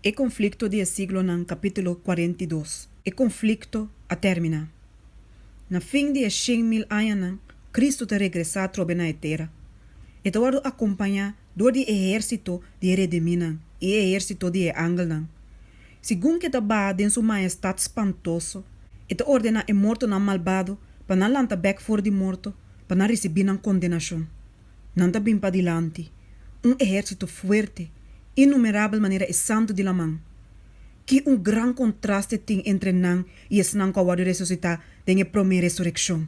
E conflicto di e siglonan capítulo cuarenta i dos. E conflicto a termina. Na fin di e shen mil añanan, Cristo ta regresa atrobe na e tera. E ta wordo acompaña dor di e ehercito di e rediminan i e ehercito di e angelnan. Segun ke ta baha den su maestat spantoso, e ta ordená e mortonan malbado pa nan lanta bèk for di morto pa nan risibí nan kondenashon. Nan ta bin padilanti, un ehèrsito fuerte, innumerabel manera e santu di laman. Ki un gran kontraste tin entre nan i esnan ku a wòrdu resusitá den e promé resurekshon!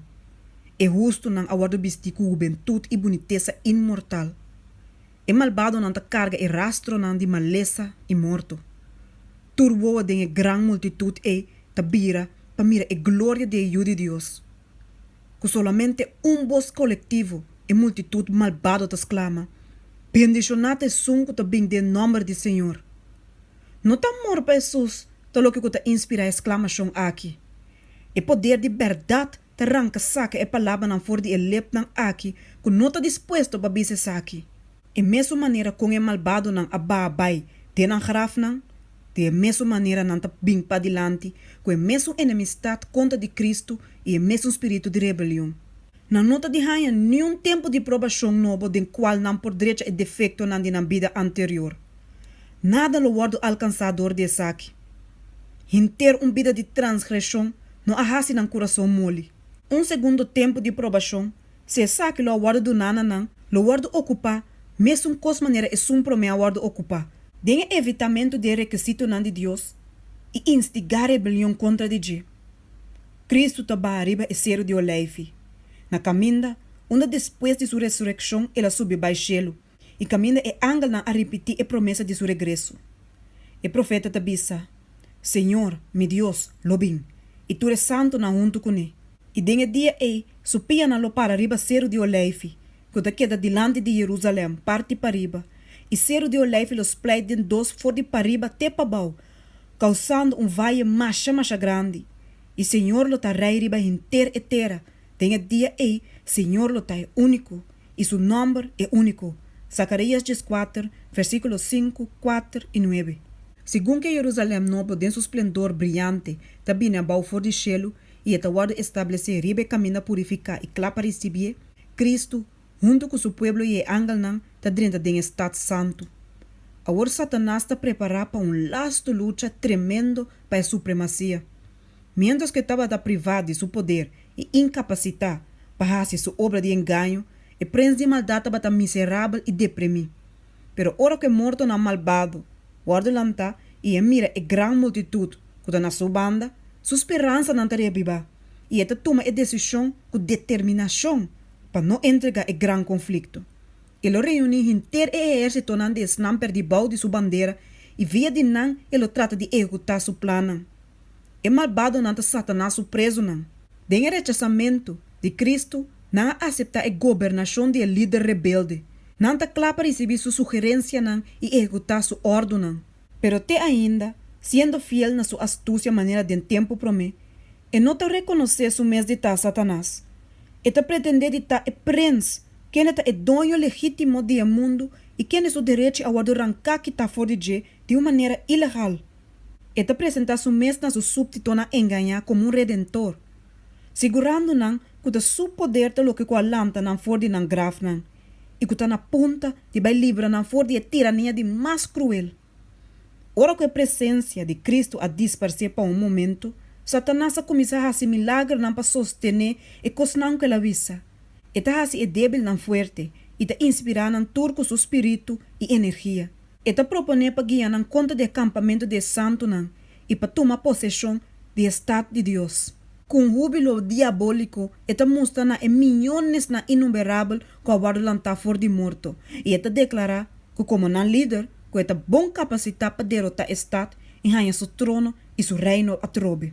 E hustunan a wòrdu bistí ku hubentut i bunitesa inmortal. E malbadonan ta karga e rastronan di malesa i morto. Tur wowo den e gran multitut ei ta bira pa mira e gloria di e Yu di Dios. Ku solamente un bos kolektivo e multitut malbado ta sklama, Bendishoná ta Esun ku ta bin den nòmber di Señor! No ta amor pa Hesus ta loke ku ta inspirá e sklamashon aki. E poder di bèrdat ta ranka saka e palabranan for di e lepnan aki ku no ta dispuesto pa bis esaki. E mesun manera kon e malbadonan a baha bai den nan grafnan, di e mesun manera nan ta bin padilanti ku e mesun enemistat kontra di Kristu i e mesun spiritu di rebelion. Nan no ta di haña niun tempu di probashon nobo den kual nan por drecha e defektonan di nan bida anterior. Nada lo wòrdu alkansá dor di esaki. Henter un bida di transgreshon no a hasi nan kurason moli. Un segundo tempu di probashon, si esaki lo a wòrdu duná na nan, lo wòrdu okupá mesun kos manera esun promé a wòrdu okupá, den e evitamentu di e rekisitonan di Dios i instigá rebelion kontra di dje. Kristu ta baha riba e seru di Olijfi, na kaminda unda despues di su resurekshon el a subi bai shelu. i kaminda e angelnan a ripití e promesa di su regreso. E profeta ta bisa, Señor, mi Dios, lo bin, i tur e santunan huntu kuné. I den e dia ei su pianan lo para riba Seru di Oleifi, ku ta keda dilanti di Yerusalèm, parti pariba, i Seru di Oleifi lo splèit den dos for di pariba te pabou, kousando un vaye masha masha grandi. I Señor lo ta Rei riba henter e tera. Den e dia ei, Señor lo ta e único, i su nòmber e único. Zacarías dieskuater, versíkulo sinku, kuater i nuebe. Segun ku e Jerusalèm Nobo den su splendor briante ta bini abou for di shelu i e ta wòrdu establesé riba e kaminda purifiká i kla pa risibié, Kristu, huntu ku su pueblo i e angelnan ta drenta den e stat santu. Awor Satanas ta prepará pa un lastu lucha tremendo pa e supremasia. Miéntras ku e tabata privá di su poder i inkapasitá pa hasi su obra di engaño, e prens di maldat tabata miserabel i depremí. Pero ora ku e mortonan malbado wòrdu lantá i e mira e gran multitut ku ta na su banda, su speransanan ta reabibá i e ta tuma e desishon ku determinashon pa no entrega e gran konflikto. E lo reuní henter e ehérsitonan di esnan pèrdí bou di su bandera i via di nan e lo trata di ehekutá su plannan. E malbadonan ta Satanas su prezonan. Den e rechasamentu di Kristu, nan a aseptá e gobernashon di e lider rebelde. Nan ta kla pa risibí su sugerensianan i ehekutá su òrdunan. Pero te ainda, siendo fiel na su astusia manera den tempu promé, E no ta rekonosé su mes di ta Satanas. E ta pretendé di ta e prins, kende ta e doño legítimo di e mundu i kende su derechi a wòrdu ranká kitá for di dje di un manera ilegal. E ta presentá su mes na su súbtitonan engañá komo un Redentor, sigurando nan ku ta su poder ta loke ku a lanta nan for di nan grafnan i ku ta na punta di bai libra nan for di e tirania di mas kruel. Ora ku e presensia di Kristu a disparsé pa un momentu, Satanas a kuminsá hasi milagronan pa sostené e kosnan ku el a wisa. E ta hasi e débilnan fuerte i ta inspirá nan tur ku su spiritu i energia. E ta proponé pa guia nan kontra di e kampamentu di e santunan i pa tuma poseshon di e stat di Dios. Ku un húbilo diabóliko e ta mustra na e miónes na inumberabel ku a wòrdu lantá for di morto, i e ta deklará ku komo nan lider ku e ta bon kapasitá pa derotá e stat i haña su trono i su reino atrobe.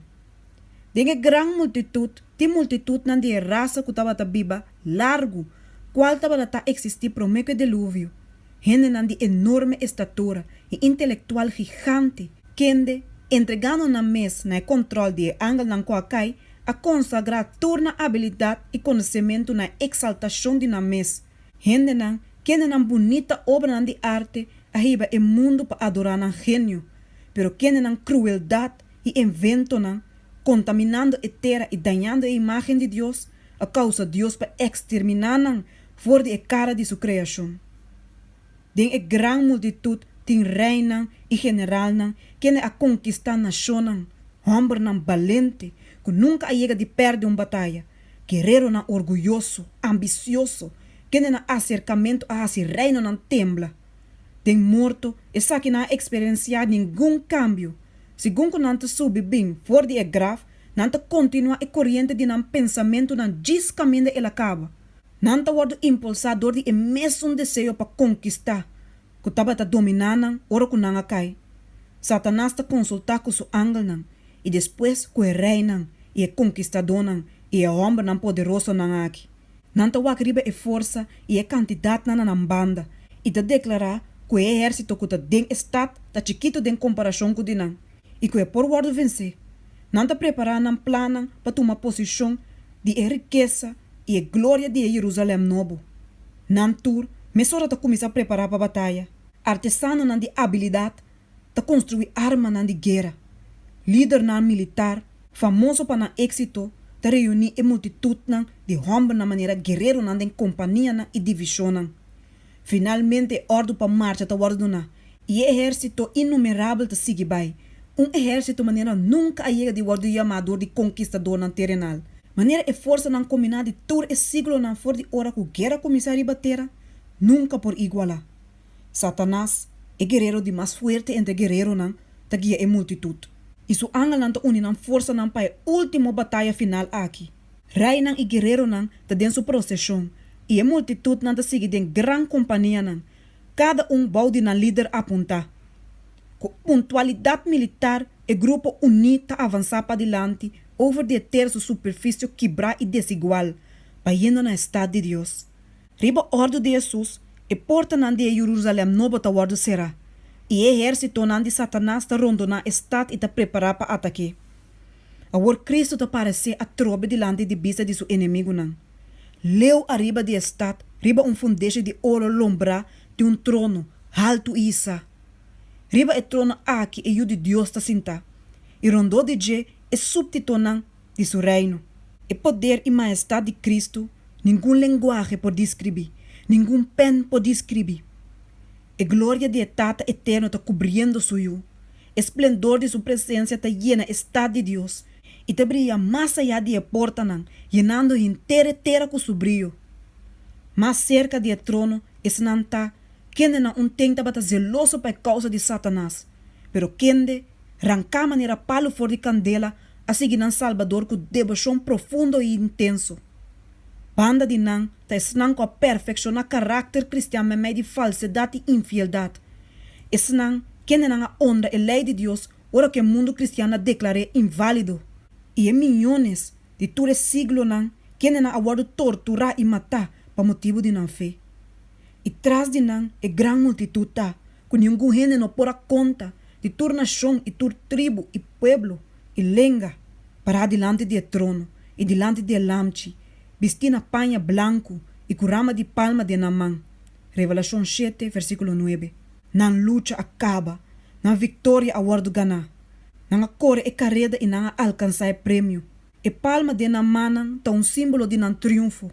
Den e gran multitut tin multitutnan di e rasa ku tabata biba largu, kual tabata ta eksistí promé ku e deluvio, Hendenan di enorme estatura i intelektual gigante, kende, entregando nan mes na e kòntròl di e angelnan ku a kai, a konsagrá tur nan abilidat i konosementu na e eksaltashon di nan mes. Hendenan, kende nan bunita obranan di arte, a hiba e mundu pa adorá nan genio, pero kende nan krueldat i enventonan, kontaminando e tera i dañando e imágen di Dios, a kousa Dios pa eksterminá nan For di e kara di su kreashon. Den e gran multitut tin reinan i generalnan kende a konkistá nashonnan, hòmbernan balente ku nunka a yega di pèrdè un bataya, gereronan orguyoso, ambisioso, kende na aserkamentu a hasi reinonan tembla. Den morto, esaki nan a eksperensiá ningun kambio. Segun ku nan ta subi bin for di e graf, nan ta kontinuá e koriente di nan pensamentunan djis kaminda el a kaba. Nan ta wòrdu impulsá dor di e mesun deseo pa konkistá ku tabata dominá nan ora ku nan a kai. Satanas ta konsultá ku su angelnan i despues ku e reinan i e konkistadónan i e hòmbernan poderosonan aki. Nan ta wak riba e forsa i e kantidatnan na nan banda i ta deklará ku e ehérsito ku ta den e stat ta chikitu den komparashon ku di nan. i ku e por wòrdu vensé, nan ta prepará nan plannan pa tuma poseshon di e rikesa i e gloria di e Yerusalèm nobo. Nan tur mesora ta kuminsá prepará pa bataya. Artesanonan di abilidat ta konstruí armanan di guera. Lidernan militar famoso pa nan éksito ta reuní e multitutnan di hòmbernan manera guereronan den kompanianan i divishonnan. Finalmente e ordu pa marcha ta wòrdu duna i e ehèrsito innumerabel ta sigui bai, un ehèrsito manera nunka a yega di wòrdu yamá dor di konkistadónan terenal. Manera e forsanan kombiná di tur e síglonan for di ora ku guera kuminsá riba tera nunka por igualá. Satanas, e gerero di mas fuerte entre gereronan, ta guia e multitut, i su angelnan ta uni nan forsanan pa e último bataya final aki. Reinan i guereronan ta den su proseshon, i e multitutnan ta sigui den gran kompanianan, kada un bou di nan lider apuntá. Ku puntualidat militar e grupo uní ta avansá padilanti over di e tersu superfisio kibrá i desigual, bayendo na e stat di Dios. Riba òrdu di Hesus, e portanan di e Yururusalen Nobo ta wòrdu será, i e ehérsitonan di Satanas ta rondoná e stat i ta prepará pa atak'é. Awor Kristu ta paresé atrobe dilanti di bista di su enemigunan, leu ariba di e stat, riba un fundeshi di oro lombrá di un trono haltu i hisá. Riba e trono aki e Yu di Dios ta sintá, i rondó di dje e súbtitonan di su Reino. E poder i maestat di Cristo ningun lenguahe por discribi, ningun pen por discribi. E gloria di e Tata Eterno ta cubriendo su Yu, e splendor di su presencia ta yena e stad di Dios i ta bria mas aya di e portanan, yenando henter e tera cu su brio. Mas cerca di e trono esnan ta kendenan un ten tabata zeloso pa e causa di Satanas, pero kende ranca manera palu for di candela a sigui nan Salbador ku devoshon profundo i intenso. Banda di nan ta esnan ku a perfekshoná karakter kristian meimei di falsedat i infieldat. Esnan kendenan a onra e lei di Dios ora ku e mundu kristian a deklar'é inválido. I e miónes di tur e siglonan kendenan a wòrdu torturá i matá pa motibu di nan fe. I tras di nan e gran multitut ta. ku ningun hende no por a konta, di tur nashon i tur tribu i pueblo i lenga, pará dilanti di e trono i dilanti di e Lamchi, bistí na paña blanku i ku rama di palma den nan man. Revelashon shete versíkulo nuebe. Nan lucha a kaba, nan viktoria a wòrdu ganá, nan a kore e kareda i nan a alkansá e premio. E palma den nan mannan ta un símbolo di nan triunfo.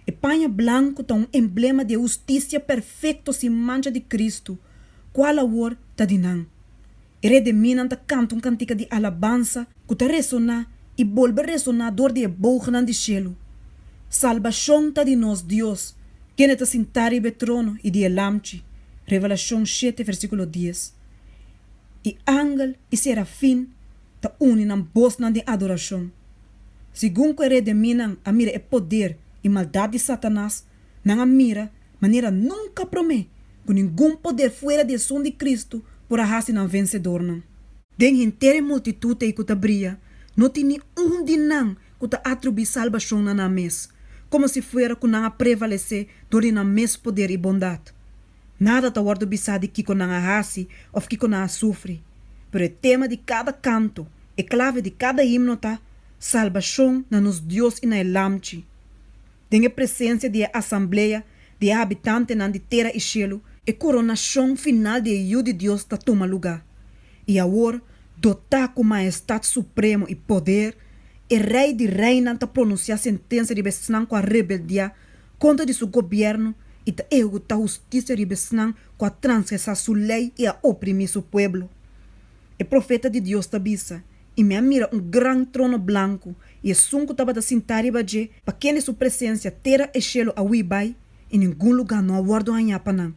E paña blanku ta un emblema di e hustisia perfekto sin mancha di Kristu, kual awor ta di nan. E rediminan ta kanta un kantika di alabansa ku ta resoná i bolbe resoná dor di e bougenan di shelu, Salbashon ta di nos Dios, kende ta sintá riba e trono i di e Lamchi, Revelashon shete, versíkulo dies. E angel i serafin ta uni nan bosnan den adorashon. Segun ku e rei den minan a mira e poder i maldat di Satanas, nan a mira manera nunka promé ku ningun poder fuera di Esun di Kristu por a hasi nan vensedornan. Den henter e multitut ei ku ta bria, no tin ni un di nan ku ta atribuí salbashon na nan mes, komo si fuera ku nan a prevalesé dor di nan mes poder i bondat. Nada ta wòrdu bisá di kiko nan a hasi òf kiko nan a sufri, pero e tema di kada kanto, e klave di kada himno ta, Salbashon na nos Dios i na e Lamchi. Den e presensia di e asamblea di e habitantenan di tera i shelu, e koronashon final di e Yu di Dios ta tuma lugá i awor, dotá ku maestat supremo i poder, e Rei di reinan ta pronunsiá sentensia riba esnan ku a rebeldiá kontra di su gobièrnu i ta eheguta hustisia riba esnan ku a transgresá su lei i a oprimí su pueblo. E profeta di Dios ta bisa, I mi a mira un gran trono blanku i esun ku tabata sintá riba dje, pa kende su presensia tera i shelu a hui bai i ningun lugá no a wòrdu hañá pa nan.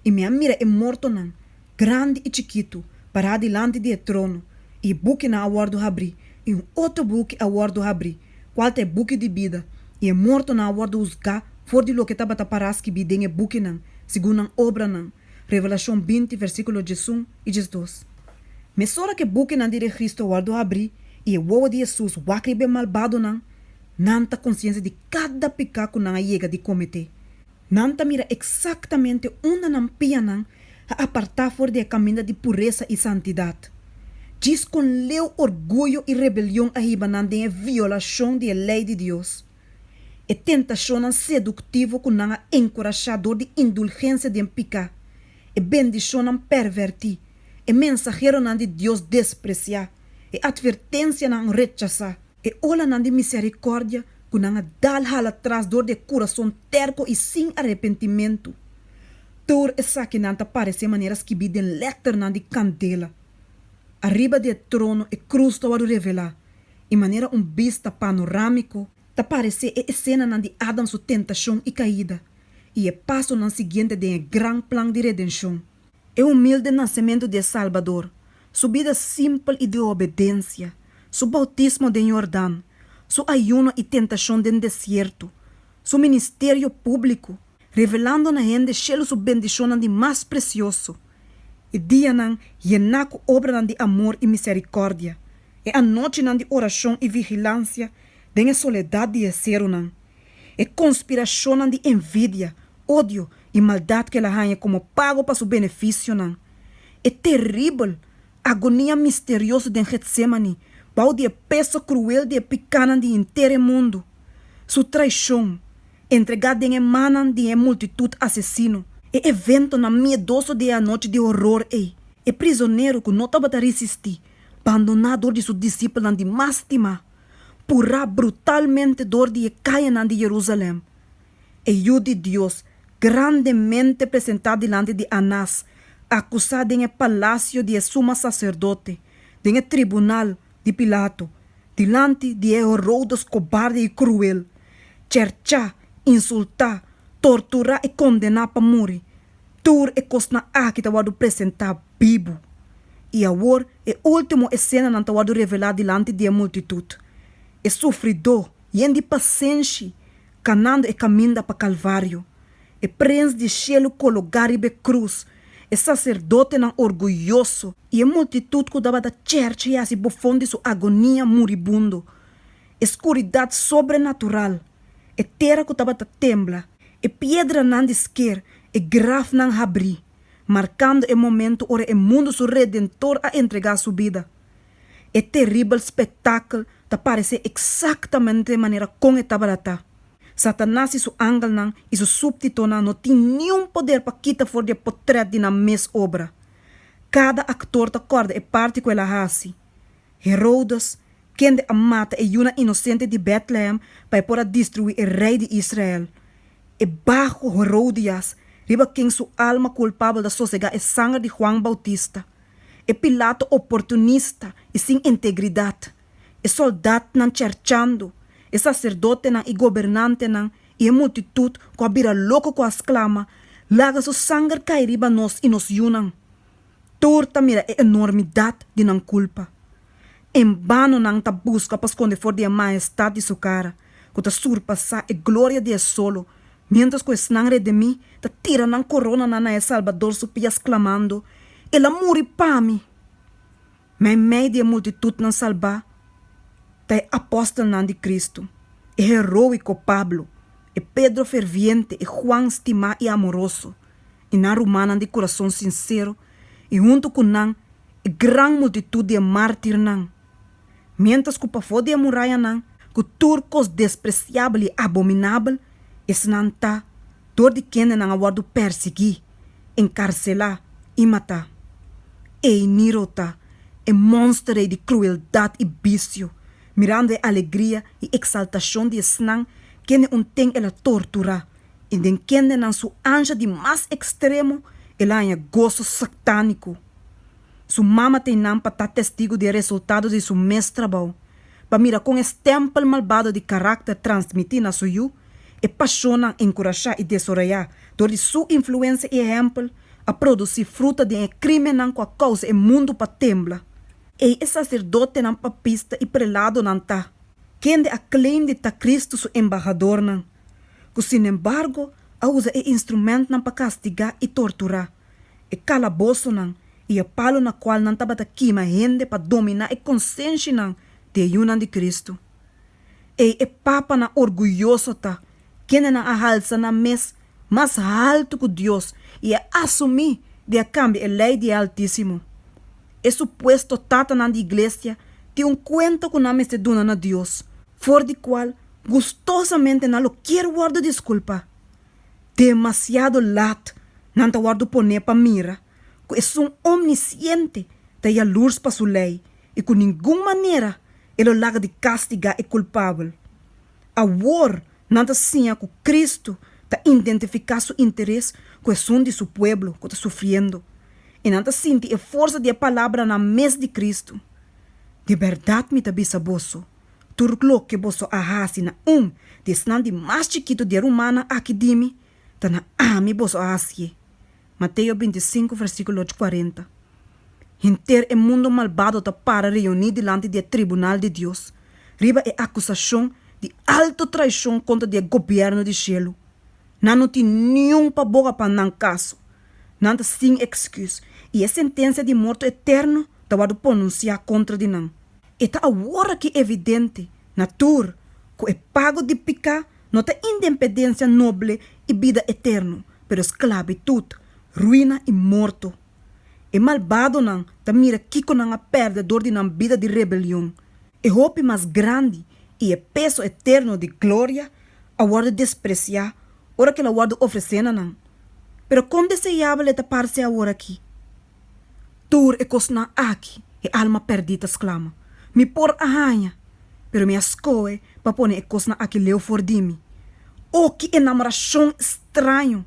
I mi a mira e mortonan, grandi i chikitu, pará dilanti di e trono, i bukinan a wòrdu habrí, i un otro buki a wòrdu habrí, kual ta e buki di bida, i e mortonan a wòrdu husgá for di loke tabata pará skibí den e bukinan, segun nan obranan. Revelashon binti, versíkulo diesun i diesdos. Mesora ku e bukinan di registro a wòrdu habrí i e wowo di Hesus wak riba e malbadonan, nan ta konsiensia di kada piká ku nan a yega di kometé. Nan ta mira eksaktamente unda nan pianan a apartá for di e kaminda di puresa i santidat. Djis kon leu orguyo i rebelion a hiba nan den e violashon di e lei di Dios! E tentashonnan seduktivo ku nan a enkurashá dor di indulgensia den piká, e bendishonnan pèrvèrtí, e mensaheronan di Dios despresiá, e atvertensianan rechasá, E olanan di misericordia cu nan a dal hala tras door di e curason terco y sin arepentimentu. Toor esakinan ta parece manera skibi den letternan di candela. Ariba di e trono e cruz ta word'o revela y manera un bista panoramico, ta parece e escenanan di Adam su tentacion y caida y e pasonan siguiente den e gran plan di redencion. E humilde nasementu di e Salbador, Su bida simpel i di obedensia, Su boutismo den Yordan, Su ayuno i tentashon den desierto, Su ministerio públiko, revelando na hende shelu Su bendishonnan di mas presioso, e dianan yená ku obranan di amor i miserikòrdia, e anochinan di orashon i vigilansia den e soledat di e serunan, E konspirashonnan di envidia, odio i maldat ku el a haña komo pago pa su benefisionan. E teribel agonia misterioso den Getsemani bou di e peso kruel di e pikanan di henter e mundu. Su traishon, entregá den e mannan di e multitut asesino. E eventonan miedoso di e anochi di horor ei. E prizonero ku no tabata risistí, bandoná dor di su disipelnan di mas stimá. purá brutalmente dor di e kayanan di Jerusalèm. E Yu di Dios, grandemente presentá dilanti di Anás, akusá den e palasio di e suma saserdote, den e tribunal di Pilato, dilanti di e Herodes kobarde i kruel, cherchá, insultá, torturá i kondená pa muri, Tur e kosnan aki ta wòrdu presentá bibu. I awor e último esenanan ta wòrdu revelá dilanti di e multitut, e sufridó, yen di pasenshi, kanando e kaminda pa Kalvario, e Prins di e shelu kologá riba e krus, e saserdotenan orguyoso, i e multitut ku tabata chèrchia si bofon di su agonia muribundo, e skuridat sobrenatural. e tera ku tabata tembla, e piedranan di sker, e grafnan habrí, markando e momentu ora e mundu su Redentor a entregá su bida. E teribel spektakel ta paresé eksaktamente manera kon e tabalatá. Satanas i su angelnan i su súbtitonan no tin niun poder pa kita for di e potrèt di nan mes obra. Kada aktor ta kòrda e parti ku el a hasi. Herodes, kende a mata e yunan inosente di Bètlehem pa e por a destruí e rei di Israel. E baho Herodias, riba ken su alma kulpabel ta sosegá e sanger di Huan Boutista. E Pilato oportunista i sin integridat. E sòldatnan cherchando. E saserdotenan i gobernantenan i e multitut ku a bira loko ku a sklama, Laga su sanger kai riba nos i nos yunan! Tur ta mira e enormidad di nan culpa. En bano nan ta busca pa sconde for di e majestad di su cara, cu ta surpasa e gloria di e solo, mientras cu esnan redimi ta tira nan coronanan na e Salbador su pies clamando, El a muri pa mi! Ma en mei di e multitudnan salba ta e apostelnan di Cristo, e heroico Pablo, e Pedro ferviente, e Juan stima y amoroso. i nan rumannan di kurason sinsero i huntu ku nan e gran multitut di e mártirnan, miéntras ku pafó di e murayanan ku tur kos despresiabel i abominabel, esnan ta dor di kendenan a wòrdu pèrsiguí, enkarselá i matá. Ei, Niro ta e monster rei di krueldat i bisio, mirando e alegria i eksaltashon di esnan kende un ten el a torturá I den kende nan su anja di mas ekstremo el a haña goso saktániko. Su mama ta einan pa ta testigu di e resultado di su mes trabou, pa mira kon e stèmpel malbado di karakter transmití na su yu, e pashonnan enkurashá i desorayá dor di su influensia i ehèmpel, a produsí fruta den e krímennan ku a kousa e mundu pa tembla. Ei e saserdotenan, papista i preladonan ta, kende a claim di ta Kristu su embahadornan. ku sinembargo a usa e instrumentnan pa kastigá i torturá, e kalabosonan i e palu na kual nan tabata kima hende pa dominá e konsenshianan di e yunan di Kristu. Ei e papanan orguyoso ta, kende nan a halsa nan mes mas haltu ku Dios i a asumí di a kambia e lei di e Altísimo. E supuesto tatanan di iglesia tin un kuenta ku nan mester duna na Dios, for di kual Gustosamente nan lo kier wòrdu diskulpa. Demasiado lat nan ta wòrdu poné pa mira ku esun omnisiente ta yaluurs pa su lei i ku ningun manera e lo laga di kastigá e kulpabel. Awor nan ta siña ku Kristu ta indentifiká su interes ku esun di su pueblo ku ta sufriendo i nan ta sinti e forsa di e palabranan mes di Kristu, Di bèrdat mi ta bisa boso, Tur lo ke boso a hasi na un di esnan di mas chikitu di e rumannan aki di mi, ta na ami boso a hasié. Mateo binti sinku vèrsikulo ocho kuarenta Henter e mundu malbado ta para reuní dilanti di e tribunal di Dios, riba e akusashon di altu traishon kontra di e gobièrnu di shelu. Nan no tin niun paboga pa nan kaso. Nan ta sin èksküs, i e sentensia di morto etèrnu ta wòrdu pronunsiá kontra di nan. E ta aworaki evidente na tur ku e pago di piká no ta indempedensia noble i bida eterno, pero sklabitut, ruina i morto. E malbadonan ta mira kiko nan a pèrdè dor di nan bida di rebelion. E hopi mas grandi i e peso eterno di gloria a wòrdu despresiá ora kila wòrdu ofresé na nan. Pero kon deseabel e ta parse aworakí! Tur e kosnan aki, e alma pèrdí ta sklama. Mi por a haña, pero mi a skohe pa pone e kosnan aki leu for di mi. O ki enamorashon straño!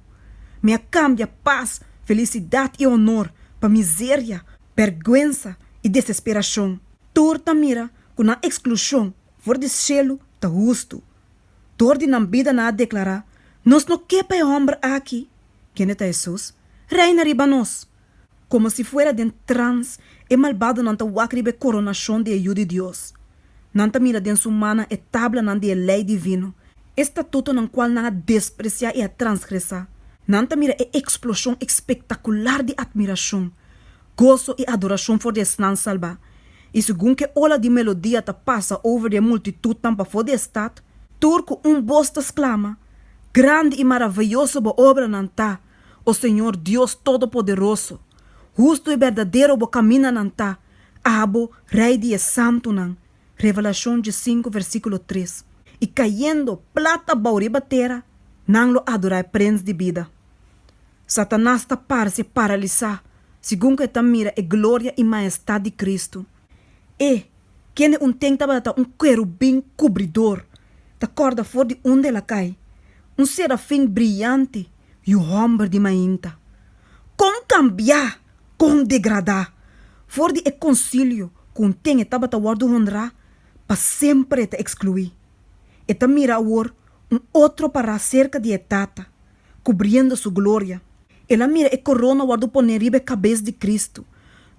Mi a kambia pas, felisidat i honor pa mizeria, bèrgwensa i desesperashon. Tur ta mira ku nan eksklushon for di shelu ta hustu, Dor di nan bida nan a deklará, Nos no ke pa e hòmber aki! Kende ta Hesus? Reina riba nos! Komo si fuera den trans, e malbadonan ta wak riba e koronashon di e yu di Dios. Nan ta mira den su mannan e tablanan di e lei divino, e statutonan kual nan a despresiá i a transgresá. Nan ta mira e eksploshon ekspektakular di atmirashon. Goso i adorashon for di esnan salbá. I segun ku e ola di melodia ta pasa over di e multitutnan pafó di e stat, tur ku un bos ta sklama, Grandi i maraveyoso bo obranan ta, o Señor Dios Todopoderoso! Hustu i berdadero bo kaminanan ta, abo, Rei di e santunan! Revelashon diesinku versíkulo tres. I kayendo plat abou riba tera, nan lo adorá e Prens di Bida. Satanas ta parce paralisá segun ku e ta mira e gloria i maestat di Kristu. E, kende un tem tabata ta un kerubin kubridor, ta kòrda for di unda el a kai, un serafin briyante yu hòmber di mainta. Kon kambiá, kon degradá, for di e konsilio ku un tem e tabata wòrdu honrá, pa semper e ta ekskluí. E ta mira awor un otro pará serka di e Tata, kubriendo Su gloria. El a mira e korona wòrdu pone riba e kabes di Kristu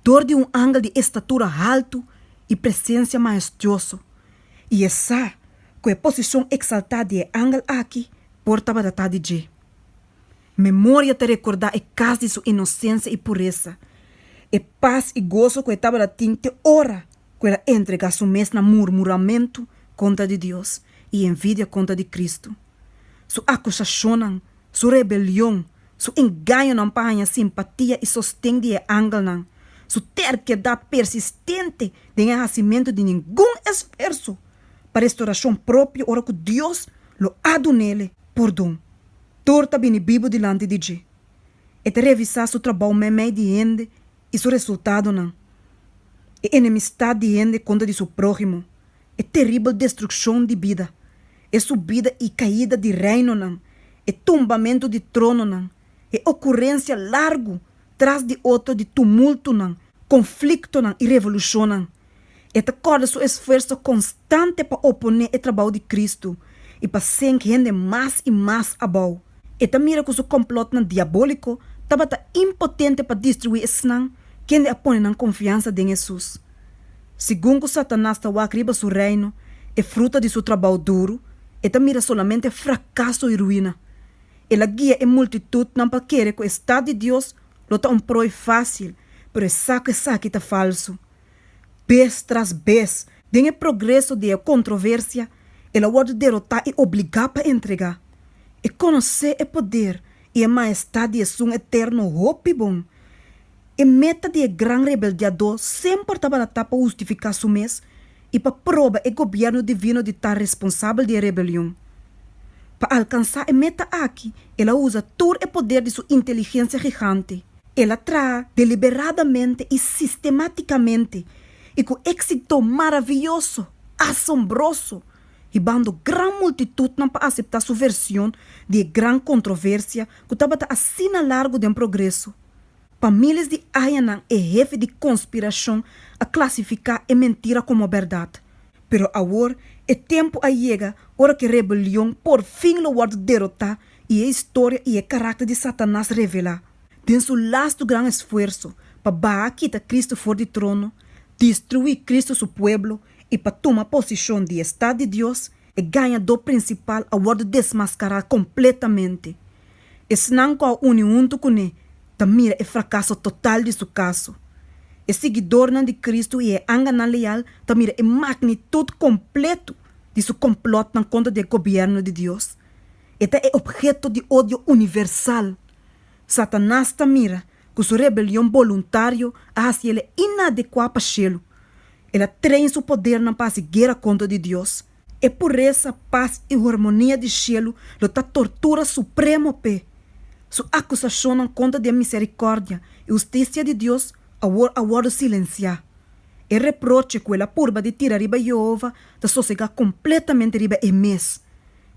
dor di un angel di estatura haltu i presensia maestioso, i e sa ku e posishon eksaltá di e angel aki por tabata ta di dje. Memoria ta rekordá e kas di su inosensia i puresa, e pas i goso ku e tabata tin te ora ku el a entregá su mes na murmuramentu kontra di Dios i envidia kontra di Kristu. su akusashonnan, su rebelion, su engañonan pa haña simpatia i sosten di e angelnan, su terkedat persistente den e hasimentu di ningun esfuerso pa restorashon propio ora ku Dios lo a duna el e pordon. Tur ta bini bibu dilanti di dje. E ta revisá su trabou meimei di hende i su resultadonan, e enemistat di hende kontra di su próhimo. e teribel destrukshon di bida, e subida i kaida di reinonan, e tumbamentu di trononan, e okurensia largu tras di otro di tumultunan, konfliktonan i revolushonnan. E ta kòrda su esfuerso konstante pa oponé e trabou di Kristu i pa sink hende mas i mas abou. E ta mira ku su komplòtnan diabóliko tabata impotente pa destruí esnan kende a pone nan konfiansa den Hesus. Segun ku Satanas ta wak riba su reino, e fruta di su trabou duru, e ta mira solamente frakaso i ruina. El a guia e multitutnan pa kere ku e Stat di Dios lo ta un proi fásil, pero e sa ku esaki ta falsu. Bes tras bes, den e progreso di e kontroversia, el a wòrdu derotá i obligá pa entregá. E konosé e poder i e maestat di Esun Eterno hopi bon. E meta di e gran rebeldiadó semper tabata ta pa hustifiká su mes i pa proba e gobièrnu divino di ta responsabel di e rebelion. Pa alkansá e meta aki, el a usa tur e poder di su inteligensia gigante. El a traha deliberadamente i sistemátikamente i ku éksito maravioso, asombroso, hibando gran multitutnan pa aseptá su version di e gran kontroversia ku tabata asina largu den progreso. Pa miles di añanan e hefe di konspirashon a klasifiká e mentira komo bèrdat. Pero awor e tempu a yega ora ku e rebelion porfin lo wòrdu derotá i e historia i e karakter di Satanas revelá. Den su lastu gran esfuerso pa baha kita Kristu for di trono, destruí Kristu su pueblo i pa tuma posishon di e Stat di Dios, E gañadó prinsipal a wòrdu desmaskará kompletamente. Esnan ku a uni huntu kuné ta mira e frakaso total di su kaso. E siguidornan di Kristu i e anganan leal ta mira e magnitut kompletu di su komplòtnan kontra di e gobièrnu di Dios. E ta e opheto di odio universal. Satanas ta mira ku su rebelion boluntario a hasi el e inadekuá pa shelu. El a train su podernan pa hasi guera kontra di Dios. E puresa, pas i hormonia di shelu lo ta tortura supremo p'e. Su akusashonnan kontra di e miserikòrdia i hustisia di Dios awor a wòrdu silensiá. E reproche ku el a purba di tira riba Yehova ta sosegá kompletamente riba e mes.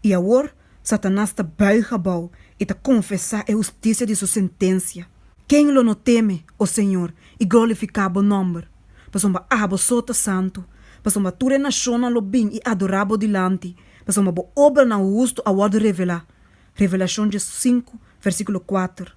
I awor Satanas ta buig abou i ta konfesá e hustisia di su sentensia. Ken lo no teme, O Señor, i glorifiká bo nòmber? Pasobra abo so ta santu. Pasobra tur e nashonnan lo bin i adorá bo dilanti, pasobra bo obranan hustu a wòrdu revelá. Revelashon dje sinku, vèrsikulo kuater.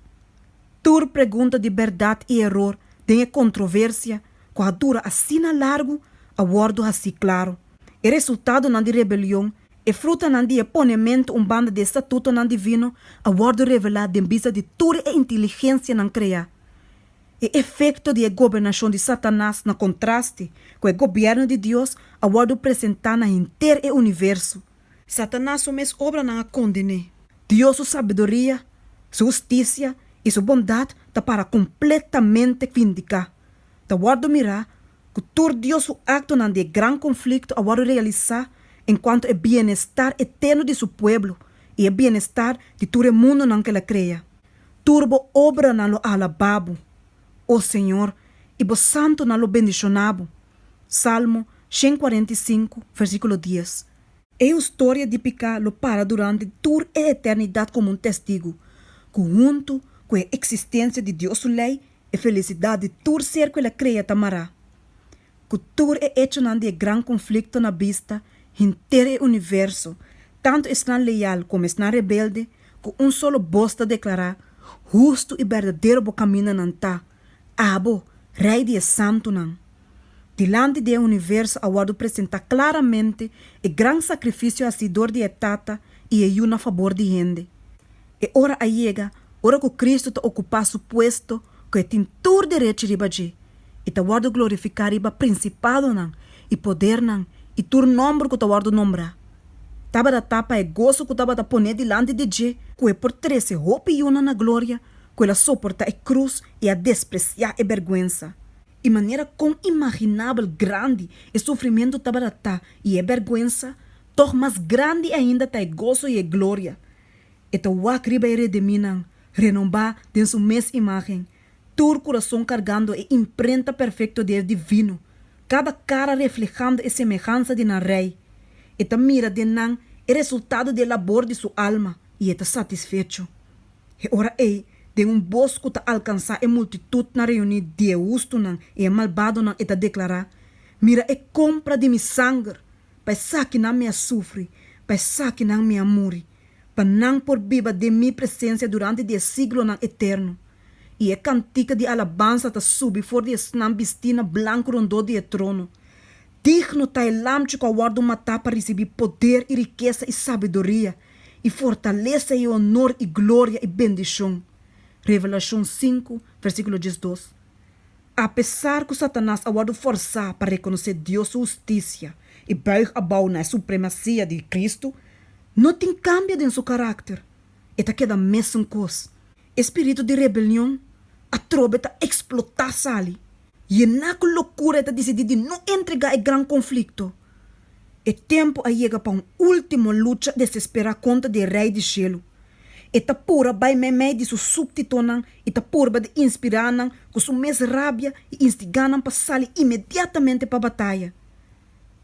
Tur pregunta di bèrdat i eror den e kontroversia ku a dura asina largu a wòrdu hasí klaru. E resultadonan di rebelion E frutanan di e ponementu un banda di e statutonan divino a wòrdu revelá den bista di tur e inteligensianan kreá. E efekto di e gobernashon di Satanas na kontraste ku e gobièrnu di Dios a wòrdu presentá na henter e universo. Satanas su mes obranan a kondené. Dios su sabiduria, su hustisia i su bondat ta para kompletamente vindiká. Ta wòrdu mirá Ku tur Dios su aktonan di e gran konflikto a wòrdu realisá enkuanto e bienestar eterno di su pueblo i e bienestar di tur e mundonan ku el a krea. Tur bo obranan lo alabá bo, o Señor, i bo santunan lo bendishoná bo. Salmo shen kuarenta i sinku, versíkulo dies. E hustoria di piká lo para durante tur e eternidat komo un testigu ku huntu ku e eksistensia di Dios su lei E felisidat di tur ser ku el a krea ta mará ku tur e echonan di e gran konflikto na bista henter e universo, tantu esnan leal komo esnan rebelde, ku un solo bos ta deklará, Hustu i berdadero bo kamindanan ta, abo, Rei di e santunan. Dilanti di e universo a wòrdu presentá klaramente e gran sakrifisio hasí dor di e Tata i e Yu na fabor di hende. E ora a yega ora ku Kristu ta okupá su puesto ku e tin tur derech riba dje, i ta wòrdu glorifiká riba prinsipadonan i podernan i tur nòmber ku ta wòrdu nombrá. Tabata ta pa e goso ku tabata pon'é dilanti di dje, ku e por trese hopi yunan na gloria ku el a soportá e krus i a despresiá e bèrgwensa, i manera kon imaginabel grandi e sufrimentu tabata ta i e bèrgwensa, tòg mas grandi ainda ta e goso i e gloria E ta wak riba e rediminan, renombá den su mes imágen, tur kurason kargando e imprenta perfekto di e divino, kada kara reflehando e semehansa di nan Rei. E ta mira den nan e resultado di e labor di su alma i e ta satisfecho. E ora ei, den un bos ku ta alkansá e multitutnan reuní di'e hustunan i e malbadonan, e ta deklará, Mira e kompra di mi sanger! pa esakinan mi a sufri, pa esakinan mi a muri, pa nan por biba den mi presensia durante di e siglonan eterno. I e kantika di alabansa ta subi for di esnan bistí na blanku rondó di e trono, Digno ta e Lamchi ku a wòrdu matá pa risibí poder i rikesa i sabiduria i fortalesa i onor i gloria i bendishon. Revelashon sinku, vèrsíkulo diesdos. Apesar ku Satanas a wòrdu fòrsá pa rekonosé Dios su hustisia i bùig abou na e supremasia di Kristu, no tin kambia den su karakter. E ta keda mesun kos. E spiritu di rebelion atrobe ta eksplotá Sally. Yená ku lokura e ta disidí di no entregá e gran konflikto. E tempu a yega pa un último lucha desesperá kontra di e Rei di Shelu. E ta purba bai meimei di su súbtitonan i ta purba di inspirá nan ku su mes rabia i instigá nan pa sali inmediatamente pa bataya.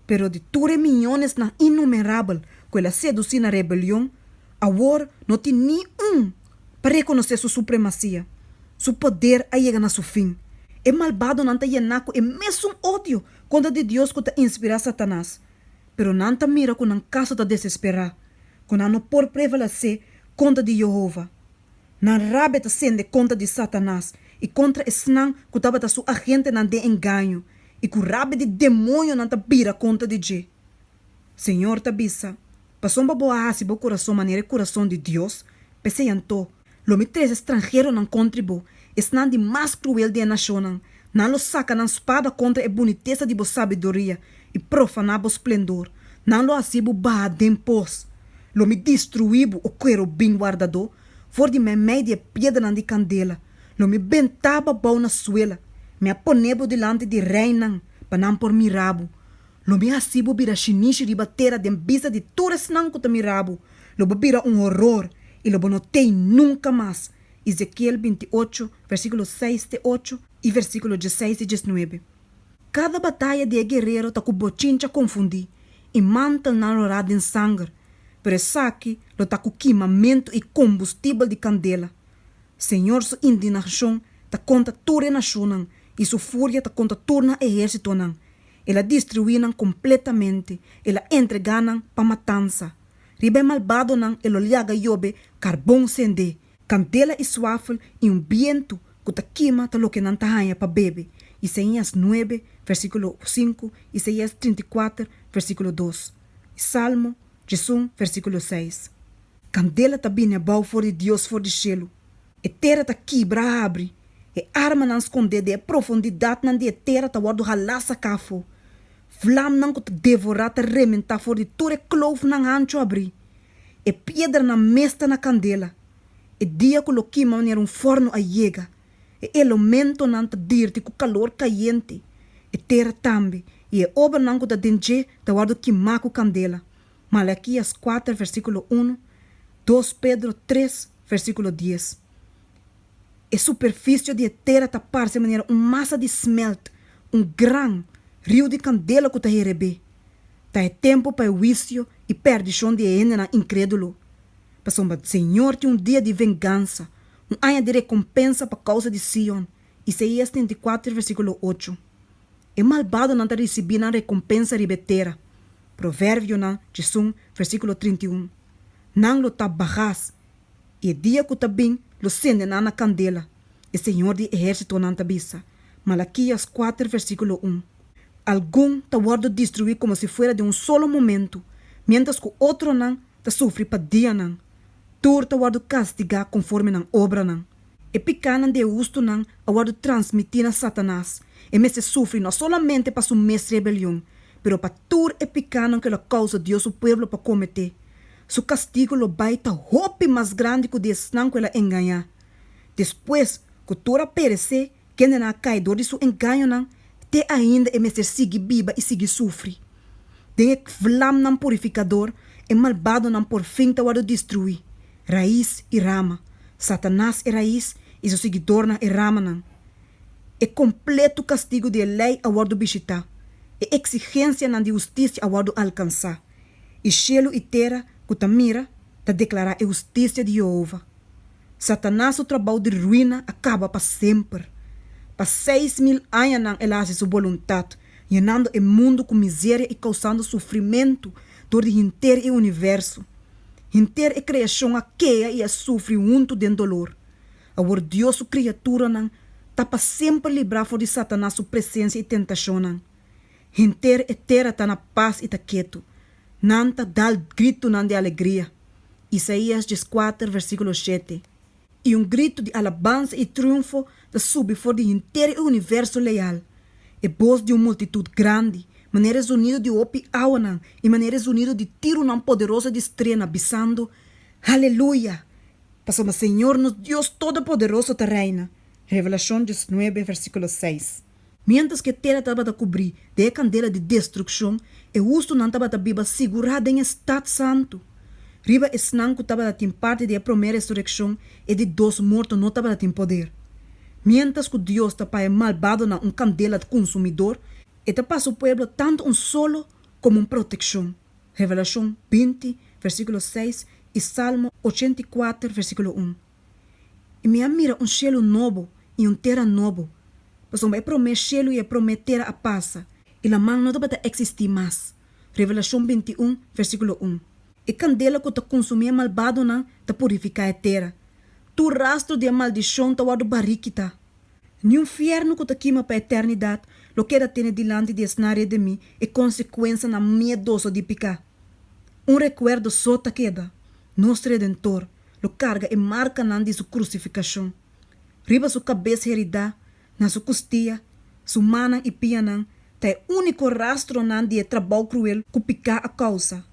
Pero di tur e miñonesnan innumerabel ku el a sedusí na rebelion, awor no tin ni un pa rekonosé su supremasia. Su poder a yega na su fin. E malbadonan ta yená ku e mesun odio kontra di Dios ku ta inspirá Satanas. pero nan ta mira ku nan kaso ta desesperá, ku nan no por prevalesé kontra di Yehova. Nan rabia ta sende kontra di Satanas i kontra esnan ku tabata su agentenan den engaño, i ku rabia di demonionan ta bira kontra di dje. Señor ta bisa, Pasobra bo a hasi bo kurason manera e kurason di Dios, p'esei anto, Lo mi trese stranheronan contri bo, esnan di mas cruel di e nacionnan, nan lo saca nan spada contra e bunitesa di bo sabiduria y profana bo splendor, nan lo haci bo baha den pos. Lo mi destrui bo, o querubin wardadó, for di meimei di e piedranan di candela, lo mi benta bo bou na suela, mi a pone bo dilanti di reinan, pa nan por mira bo. Lo mi haci bo bira shinishi riba tera den bista di tur esnan cu ta mira bo, lo bo bira un horor i lo bo no t'ei nunka mas, Ezekiel binti ocho, versíkulo seis te ocho i versíkulo diesseis te diesnuebe. Kada bataya di e guerero ta ku bochincha konfundí i mantelnan lo rá den sanger, pero esaki lo ta ku kimamentu i kombustibel di kandela. Señor su indinashon ta kontra tur e nashonnan i su furia ta kontra tur nan ehérsitonan, El a destruí nan kompletamente, el a entregá nan pa matansa. Riba e malbadonan e lo liaga yobe karbon sendé. Kandela i suafel i un bientu ku ta kima ta loke nan ta haña pa bebe. Isaías nuebe, versíkulo sinku, Isaías trinta i kuater, versíkulo dos, i Salmo djesun, versíkulo seis. Kandela ta bini abou for di Dios for di shelu, E tera ta kibra habri, e armanan skondé den e profundidatnan di e tera ta wòrdu halá saká afó. Vlamnan ku ta devorá ta rementá for di tur e kloufnan ancho abrí. E piedranan mes ta na kandela. E dia ku lo kima manera un fòrnu a yega. E elomentonan ta dirti ku kalor kayente. E tera tambe i e obranan ku ta den dje ta wòrdu kimá ku kandela. Malakias kuater versíkulo unu, dos Pedro tres versíkulo dies. E superfisio di e tera ta parse manera un masa di smèlt, un gran riu di kandela ku ta hereb'é. Ta e tempu pa e huisio i pèrdishon di e hendenan inkrédulo. Pasobra Señor tin un dia di vengansa, un aña di rekompensa pa kousa di Sion, Isaías treinta i kuater versíkulo ocho. E malbadonan ta risibí nan rekompensa riba e tera. Proverbionan cisun, versíkulo trinta i un. Nan lo tap bagas, i e dia ku ta bin lo sende nan na kandela, e Señor di ehérsitonan ta bisa. Malakias kuater, versíkulo un. Algun ta wòrdu destruí komo si fuera den un solo momentu, miéntras ku otronan ta sufri pa dianan. Tur ta wòrdu kastigá konforme nan obranan. E picánan di e hustunan a wòrdu transmití na Satanas. E mester sufri no solamente pa su mes rebelion, pero pa tur e picánan ku el a kousa Dios su pueblo pa kometé. Su kastigu lo bai ta hopi mas grandi ku di esnan ku el a engañá. Despues ku tur a peresé, Kendenan a kai dor di su engañonan, te ainda e mester sigui biba i sigui sufri. Den e vlamnan purifikador, e malbadonan por fin ta wòrdu destruí, rais i rama, Satanas e rais i su siguidornan e ramanan. E kompletu kastigu di e Lei a wòrdu bishitá, e eksigensianan di hustisia a wòrdu alkansá, i shelu i tera ku ta mira ta deklará e hustisia di Yehova. Satanas su trabou di ruina a kaba pa semper. Pa seis mil añanan el a hasi su boluntat, yenando e mundu ku miseria i kousando sufrimentu dor di henter e universo. Henter e kreashon a kea i a sufri huntu den dolor. Awor Dios su kriaturanan ta pa semper librá for di Satanas su presensia i tentashonnan. Henter e tera ta na pas i ta ketu. Nan ta dal gritunan di alegria. Isaías dieskuater versíkulo shete, I un gritu di alabansa i triunfo ta subi for di henter e universo leal, e bos di un multitut grandi, manera e zunidu di hopi awanan i manera e zunidu di tirunan poderoso di strena, bisando, Haleluya! Pasobra Señor nos Dios Todopoderoso ta reina. Revelashon diesnuebe versíkulo seis. Miéntras ku e tera tabata kubrí den e kandela di destrukshon, e hustunan tabata biba sigurá den e stat santu. Riba esnan ku tabata tin parti di e promé resurekshon, e di dos morto no tabata tin poder. Miéntras ku Dios ta paya malbadonan un kandela kunsumidor, e ta pa su pueblo tantu un solo komo un protekshon, Revelashon binti, vèrsikulo seis, i Salmo ochenta i kuater, vèrsikulo un. I mi a mira un shelu nobo i un tera nobo, pasobra e promé shelu i e promé tera a pasa, i laman no tabata eksistí mas. Revelashon bintiún, versíkulo un. E kandela ku ta konsumí e malbadonan ta purifiká e tera. Tur rastro di e maldishon ta wòrdu barí kitá. Niun fièrnu ku ta kima pa eternidat lo keda tene dilanti di esnan redimí e konsekuensanan miedoso di piká. Un rekuerdo so ta keda, nos Redentor, lo carga e marcanan di su crucificacion. Riba su cabez heridá, na su custia, su mannan i pianan ta e unico rastronan di e trabao cruel cu picá a causa.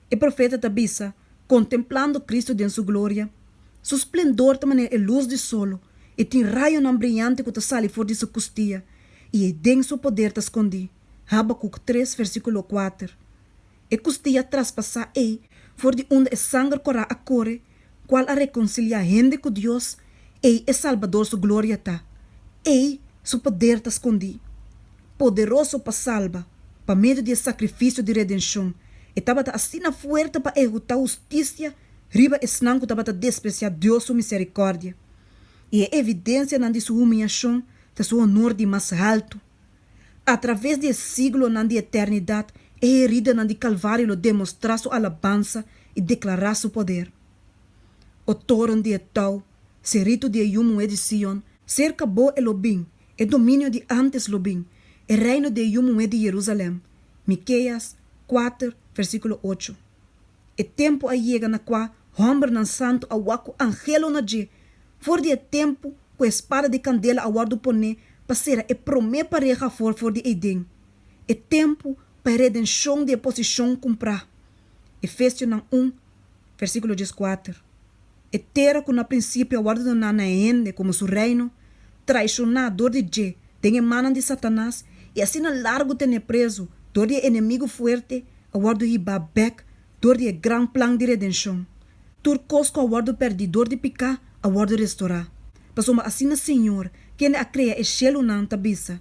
E profeta ta bisa, Contemplando Cristo den su gloria, Su splendor ta manera e luz di solo, e tin rayonan briante cu ta sali for di su custia, i e den su poder ta scondí. Habacuc tres, versiculo kuater. e kustia traspasá ei for di unda e sanger kòrá a kore, kual a rekonsiliá hende ku Dios, ei e Salbador su gloria ta. Ei Su poder ta skondí. Poderoso pa salba, pa medio di e sakrifisio di redenshon, e tabata asina fuerte pa ehekutá hustisia riba esnan ku tabata despresiá Dios su miserikòrdia. I e evidensianan di Su humiashon ta Su honor di mas haltu. Atraves di e siglonan di eternidat, e heridanan di Kalvario lo demostrá su alabansa i deklará su poder. O toren di e tou, seritu di e yu muhé di Sion, serka bo e lo bin, e dominio di ántes lo bin, e reino di e yu muhé di Jerusalèm. Mikeias kuater, versíkulo ocho. E tempu a yega na kua hòmbernan santu a wak ku angelona dje, for di e tempu ku e spada di kandela a wòrdu poné pa sera e promé pareha afó for di Eden, e tempu pa e redenshon di e posishon kumprá. Efesionan un, versíkulo dieskuater. e tera ku na prinsipio a wòrdu doná na e hende komo su reino, traishoná dor di dje den e mannan di Satanas i asina largu tené prezu dor di e enemigu fuerte, a wòrdu hibá bèk dor di e gran plan di redenshon. Tur kos ku a wòrdu pèrdí dor di piká a wòrdu restorá. Pasobra asina Señor, kende a krea e shelunan, ta bisa,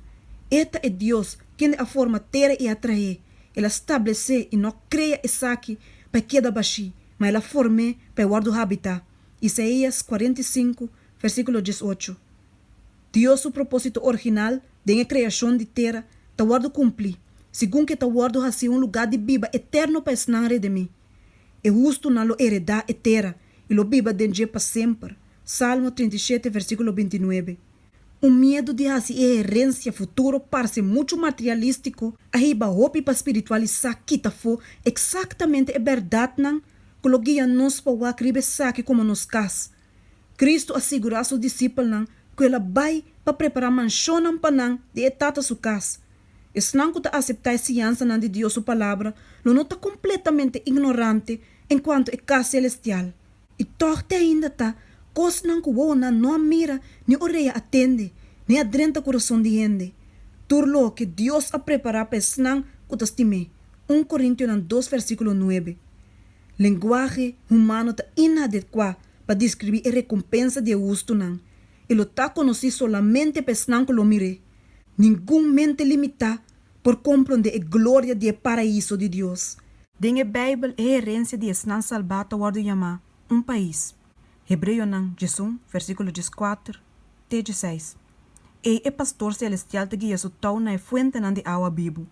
E ta e Dios kende a forma tera i a traé, el a stablesé i no krea esaki pa e keda bashí, ma el a form'é pa e wòrdu habitá, Isaías kuarenta i sinku, versíkulo dies ocho. Dios su propósito original den e kreashon di tera ta wòrdu kumplí, segun ku e ta wòrdu hasié un lugá di biba eterno pa esnan redimí. E hustunan lo eredá e tera i lo biba den dje pa semper, Salmo treinta i shete, versíkulo binti nuebe. Un miedu di hasi e herensia futuro parce muchu materialístiko a hiba hopi pa spiritualisá kita afó eksaktamente e bèrdatnan ku lo guia nos pa wak riba esaki komo nos kas. Kristu a sigurá su disipelnan ku el a bai pa prepará manshonnan pa nan den e Tata su kas. Esnan ku ta aseptá e siansanan di Dios su Palabra lo no ta kompletamente ignorante en kuantu e kas selestial. I tòg te ainda ta kosnan ku wowonan no a mira, ni orea a tende, ni a drenta kurason di hende, tur loke Dios a prepará pa esnan ku ta stim'é. Un Korintionan dos versíkulo nuebe. Lenguahe humano ta inadekuá pa diskribí e rekompensa di e hustunan, i lo ta konosí solamente pa esnan ku lo mir'é. Ningun mente limitá por komprondé e gloria di e Paraíso di Dios. Den e Beibel, e herensia di esnan salbá ta wòrdu yamá un pais, Hebreonan djes un, versíkulo djes kuater te djes seis. Ei e Pastor selestial ta guia su tou na e fuentenan di awa bibu.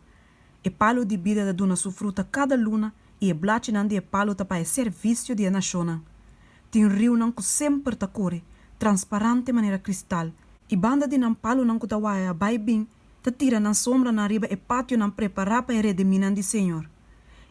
E palu di bida ta duna su fruta kada luna i e blachinan di e palu ta pa e servisio di e nashonnan. Tin riunan ku semper ta kore, transparante manera kristal, i banda di nan palunan ku ta waya bai bin, ta tira nan sombranan riba e pationan prepará pa e rediminan di Señor.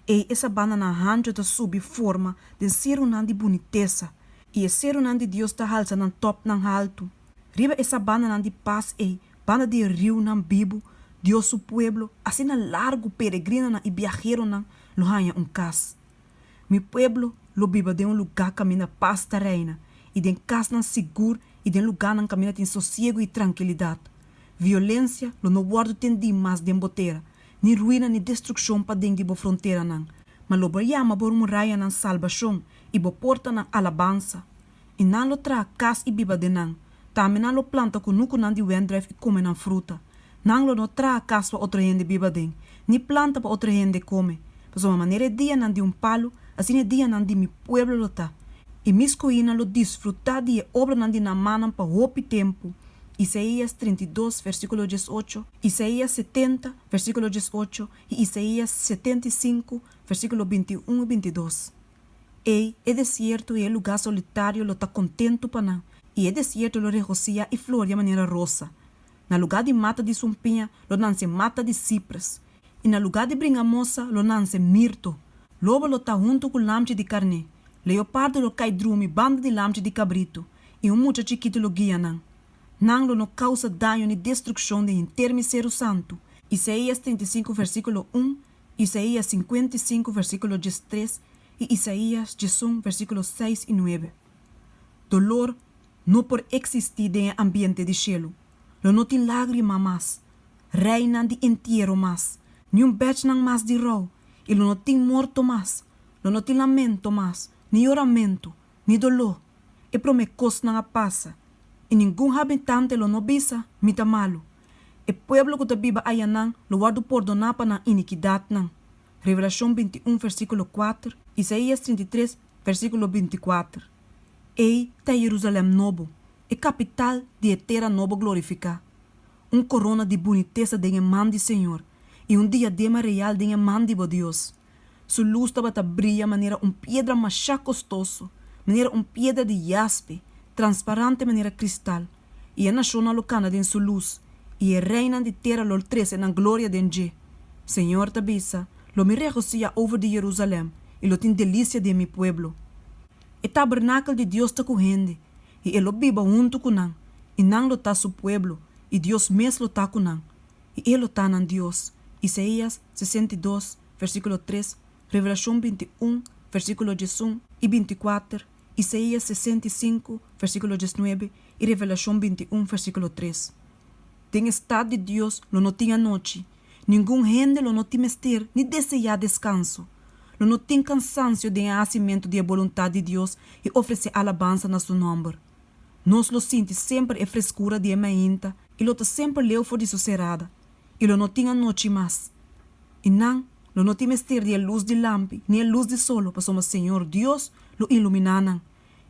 Ei e sabananan hancho ta subi forma den serunan di bunitesa, i e serunan di Dios ta halsa nan tòpnan haltu. Riba e sabananan di pas ei, banda di e riunan bibu, Dios su pueblo, asina largu peregrinanan i biaheronan, lo haña un kas. Mi pueblo lo biba den un lugá kaminda pas ta reina, i den kasnan sigur i den lugánan kaminda tin sosiegu i trankilidat. Violensia lo no wòrdu tendí mas den bo tera, ni ruina ni destrukshon paden di bo fronteranan, ma lo bo yama bo murayanan salbashon i bo portanan alabansa. I nan lo traha kas i biba den nan. Tambe nan lo planta kunukunan di wendruif i kome nan fruta. Nan lo no traha kas pa otro hende biba den, ni planta pa otro hende kome. Pasobra manera e dianan di un palu, asina e dianan di mi pueblo lo ta. E mi skuinan lo disfrutá di e obranan di nan mannan pa hopi tempu. Isaías trinta i dos, versíkulo dies ocho, Isaías setenta, versíkulo dies ocho, i Isaías setenta i sinku, versíkulo binti un i binti dos. Ei, e desierto i e lugá solitario lo ta kontentu pa nan, i e desierto lo regosía i floria manera rosa. Na lugá di mata di sunpiña lo nanse mata di sipres, i na lugá di bringamosa lo nanse mirto. Lobo lo ta huntu ku lamchi di karné, leopardo lo kai drumi banda di lamchi di kabritu, i un mucha chikitu lo guia nan. Nan lo no kousa daño ni destrukshon den hinter mi seru santu. Isaías trinta i sinku, vèrsikulo un, Isaías sinkuenta i sinku versíkulo dies tres i Isaías diesun versíkulo seis i nuebe. Dolor no por eksistí den e ambiente di shelu. Lo no tin lágrima mas, reinan di entiero mas, ni un bèchnan mas di rou, i lo no tin morto mas, lo no tin lamento mas, ni yoramentu, ni doló. E promé kosnan a pasa, i ningun habitante lo no bisa, Mi ta malu. E pueblo cu ta biba ayanan lo wordo pordoná pa nan inikidatnan. Revelacion binti un versiculo kuater, Isaías trinta i tres, versiculo binti i kuater. Ei ta e Jerusalem Nobo, e capital di e tera nobo glorificá, un corona di bunitesa den e man di Señor, i un diadema real den e man di bo Dios. Su lus tabata bria manera un piedra masha kostoso, manera un piedra di yaspe, transparante manera kristal, i e nashonnan lo kana den su lus, i e reinan di tera lo trese nan gloria den dje. Señor ta bisa, Lo mi regosiá over di Jerusalèm, i lo tin delisia den mi pueblo. E tabernakel di Dios ta ku hende, i e lo biba huntu ku nan, i nan lo ta su pueblo, i Dios mes lo ta ku nan, i e lo ta nan Dios. Isaías. sesenta i dos, versíkulo tres, Revelashon binti un, versíkulo diesun i binti kuater, Isaías sesenta i sinku, versíkulo diesnuebe i Revelashon binti un, versíkulo tres. Den e stat di Dios lo no tin anochi. Ningun hende lo no tin mester ni deseá deskanso. Lo no tin kansansio den e hasimentu di e boluntat di Dios i ofresé alabansa na Su nòmber. Nos lo sinti semper e freskura di e mainta i lo ta semper leu for di su serada. i lo no tin anochi mas, i nan lo no tin mester di e lus di lampi ni e lus di solo, pasobra Señor Dios lo iluminá nan,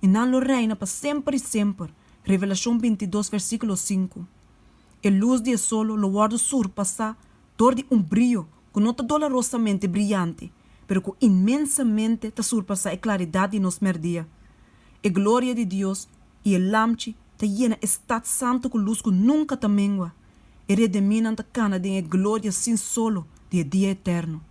i nan lo reina pa semper i semper. Revelashon bintidos versíkulo sinku. E lus di e solo lo wòrdu surpasá dor di un brio ku no ta dolarosamente briante, pero ku inmensamente ta surpasá e klaridat di nos mèrdia. E gloria di Dios i e Lamchi ta yena e stat santu ku lus ku nunka ta mengua. E rediminan ta kana den e gloria sin solo di e dia eterno.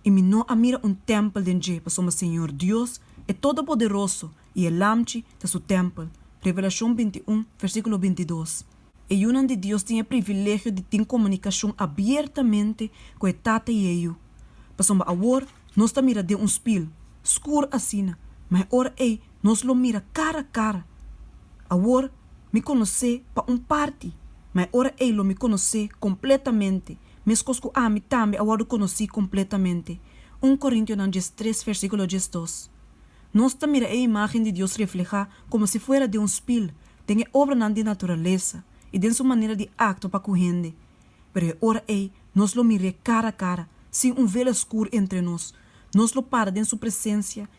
I mi no a mira un tèmpel den dje, pasobra Señor Dios, e Todopoderoso, i e Lamchi ta su tèmpel. Revelashon binti i un, versíkulo binti i dos. E yunan di Dios tin e privilegio di tin komunikashon abiertamente ku e Tata i e Yu. Pasobra awor nos ta mira den un spil, skur asina, ma e ora ei nos lo mira cara cara. Awor mi conoce pa un parti, ma e ora ey lo mi conoce completamente, mescos cu ami tambe a wordo conoci completamente. Un Corintionan dies tres, versiculo dies dos. Nos ta mira e imagen di Dios refleha como si fuera den un spil, den e obranan di naturalesa y den su manera di actua pa cu hende. Pero e ora ey nos lo mir'é cara cara, sin un velo escur entre nos. Nos lo para den su presencia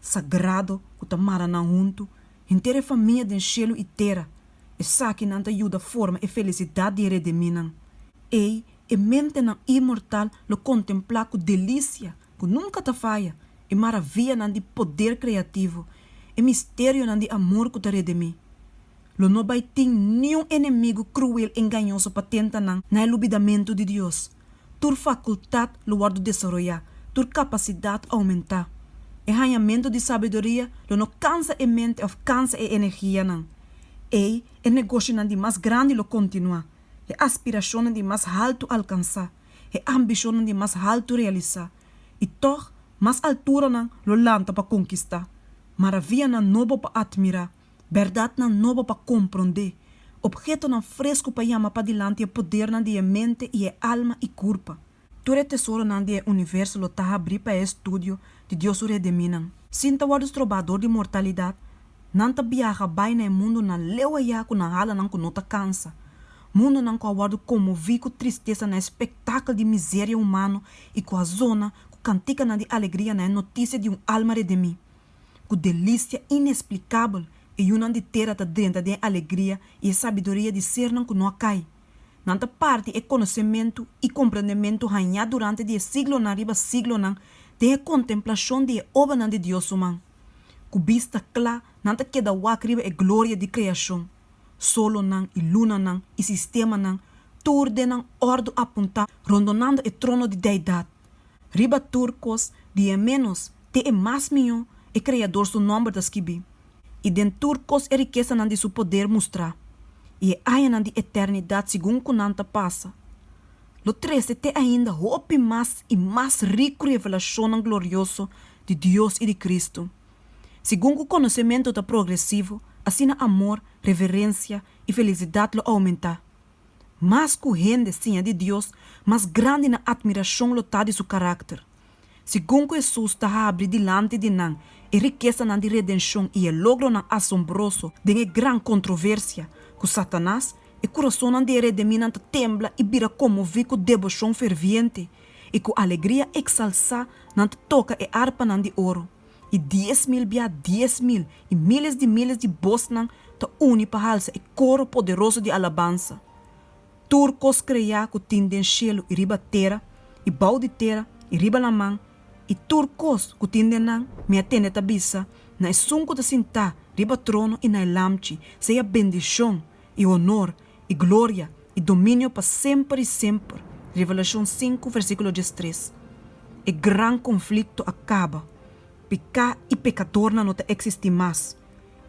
sagrado ku ta mara nan huntu, henter e famia den shelu i tera. Esakinan ta yuda forma e felisidat di e rediminan. Ei, e mentenan inmortal lo kontemplá ku delisia ku nunka ta faya, e maravianan di poder kreativo, e misterionan di amor ku ta redimí. Lo no bai tin niun enemigu kruel engañoso pa tenta nan na e lubidamentu di Dios. Tur fakultat lo wòrdu desaroyá, tur kapasidat oumentá. E hañamentu di sabiduria lo no kansa e mente òf kansa e energianan. Ei, e negoshionan di mas grandi lo kontinuá, e aspirashonnan di mas haltu alkansá, e ambishonnan di mas haltu realisá. I tòg, mas alturanan lo lanta pa konkistá, maravianan nobo pa atmirá. bèrdatnan nobo pa komprondé, opgetonan fresku pa yama padilanti e podernan di e mente i e alma i kurpa. Tur e tesoronan di e universo lo ta habrí pa e estudio di Dios su rediminan. Sin ta wòrdu strobá dor di mortalidat, nan ta biaha bai na e mundunan leu ayá ku nan hala nan ku no ta kansa, mundunan ku a wòrdu konmoví ku tristesa na e spektakel di miseria humano i ku a zona ku kantikanan di alegria na e notisia di un alma redimí. Ku delistia inesplikabel e yunan di tera ta drenta den e alegria i e sabiduria di sernan ku no a kai. Nan ta parti e konosementu i komprendementu hañá durante di e siglonan riba siglonan den e kontemplashon di e obanan di Dios su man. Ku bista kla nan ta keda wak riba e gloria di kreashon, solonan i lunanan i sistemanan, tur den nan òrdu apuntá rondonando e trono di deidat. Riba tur kos, di e ménos te e mas mihó, e Kreador su nòmber ta skibí, i den tur kos e rikesanan di su poder mustrá, i e añanan di eternidat segun ku nan ta pasa. Lo trese te ainda hopi mas i mas riku revelashonnan glorioso di Dios i di Kristu. Segun ku konosementu ta progresivo, asina amor, reverensia i felisidat lo oumentá. Mas ku hende siña di Dios, mas grandi nan atmirashon lo ta di su karakter. Segun ku Hesus ta habri dilanti di nan e rikesanan di redenshon i e logronan asombroso den e gran kontroversia ku Satanas, e kurasonnan di e rediminan ta tembla i bira konmoví ku deboshon ferviente, i ku alegria eksalsá nan ta toka e arpanan di oro. i dies mil bia dies mil, i miles di miles di bosnan ta uni pa halsa e koro poderoso di alabansa. Tur kos kreá ku tin den shelu i riba tera, i bou di tera, i riba laman, i tur kos ku tin den nan, mi a tende ta bisa, na Esun ku ta sintá riba trono i na e Lamchi, sea bendishon, i honor, i gloria, i dominio pa semper i semper. Revelashon sinku versíkulo diestres. E gran konflikto a kaba. Peká i pekadornan no ta eksistí mas.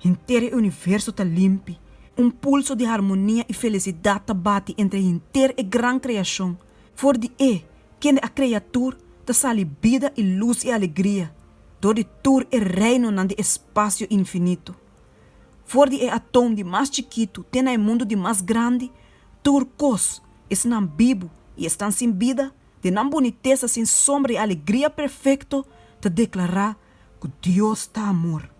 Henter e universo ta limpi. Un pulso di harmonia i felisidat ta bati entre henter e gran kreashon. For di E, kende a krea tur, ta sali bida i lus i alegria dor di tur e reinonan di espasio infinito. For di e atom di mas chikitu te na e mundu di mas grandi, tur kos, esnan bibu i esnan sin bida, den nan bunitesa sin sombra i alegria perfekto, ta deklará ku Dios ta amor.